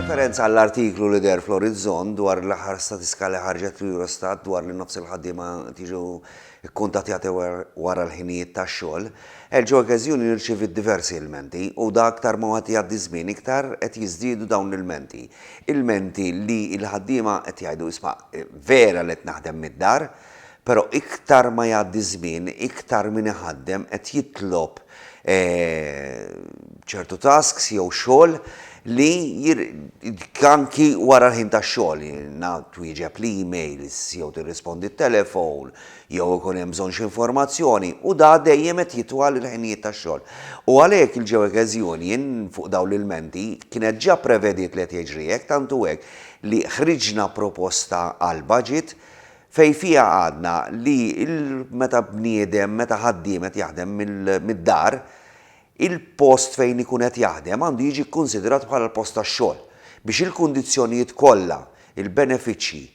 B'referenza għall-artiklu li deher fl-Orizzont dwar l-aħħar statistika li ħarġet l-Eurostat dwar li nofs il-ħaddiema qed jiġu kkuntattjati wara l-ħinijiet tax-xogħol, il-Joe Case Union rċieviet diversi ilmenti u da aktar ma qed jgħaddi ż-żmien iktar qed jiżdiedu dawn l-ilmenti. Ilmenti li l-ħaddiema qed jgħidu, 'Isma', vera li qed naħdem mid-dar. Però iktar ma jgħaddi ż-żmien, iktar min iħaddem qed jitlob ċertu tasks jew xogħol li anki wara l-ħin tax-xogħol, twieġeb l-emails jew tirrispondi t-telefon jew ikun hemm bżonn xi informazzjoni u da dejjem qed jitwal il-ħinijiet tax-xogħol. U għalhekk il-Geoekes Union fuq dawn l-ilmenti kienet ġa pprevediet li qed jiġri hekk, tant hu hekk li ħriġna proposta għall-budget Fejn fiha għadna li meta bniedem, meta ħaddiem qed jaħdem mid-dar, il-post fejn ikun qed jaħdem għandu jiġi kkunsidrat bħala l-post tax-xogħol, biex il-kundizzjonijiet kollha, il-benefiċċji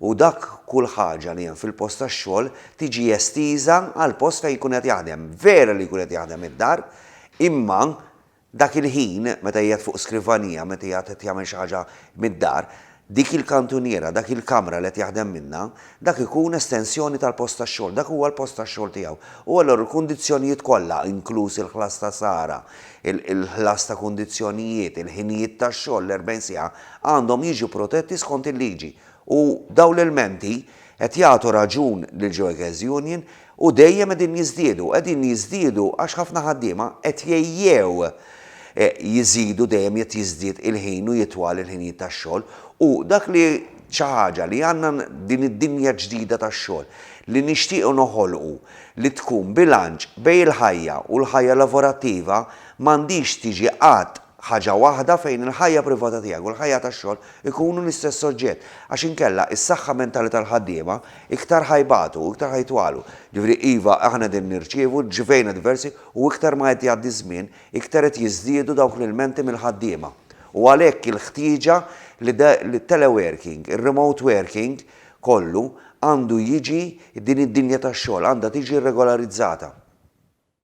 u dak kull ħaġa li hemm fil-post tax-xogħol tiġi estiża għall-post fejn ikun qed jaħdem. Vera li jkun qed jaħdem mid-dar, imma Dak il-ħin, meta qiegħed fuq skrivanija, meta qiegħed qed jagħmel xi ħaġa mid-dar, dik il-kantuniera, dak il-kamra li qed jaħdem minnha, dak ikun estensjoni tal-post tax-xogħol, dak huwa l-post tax-xogħol tiegħu. U allura l-kundizzjonijiet kollha, inkluż il-ħlas ta' sara, il-ħlas ta' kundizzjonijiet, il-ħinijiet tax-xogħol, l-erbgħin siegħa, għandhom jiġu protetti skont il-liġi. U dawn l-ilmenti qed jagħtu raġun lill-Joeke's Union U dejjem qegħdin jiżdiedu. Qegħdin jiżdiedu għax ħafna ħaddiema qed jgħejjew jiżidu dejjem qed jiżdied il-ħin u jitwal il-ħinijiet tax-xogħol u dak li xi ħaġa li għandna din id-dinja ġdida tax-xogħol li nixtiequ noħolqu li tkun bilanċ bejn il-ħajja u l-ħajja lavorattiva m'għandhiex tiġi qatt ħaġa waħda fejn il-ħajja privata tiegħek u l-ħajja tax-xogħol ikunu l-istess soġġett, għax inkella is-saħħa mentali tal-ħaddiema iktar ħa jbatu u iktar ħa jitwagħlu. Ġifieri iva, aħna qegħdin nirċievu, rċivejna diversi u iktar ma qed jgħaddi ż-żmien, iktar qed jiżdiedu dawk l-ilmenti mill-ħaddiema. U għalhekk il-ħtieġa li li t-teleworking, ir-remote working kollu għandu jiġi, din id-dinja tax-xogħol għandha tiġi regolarizzata.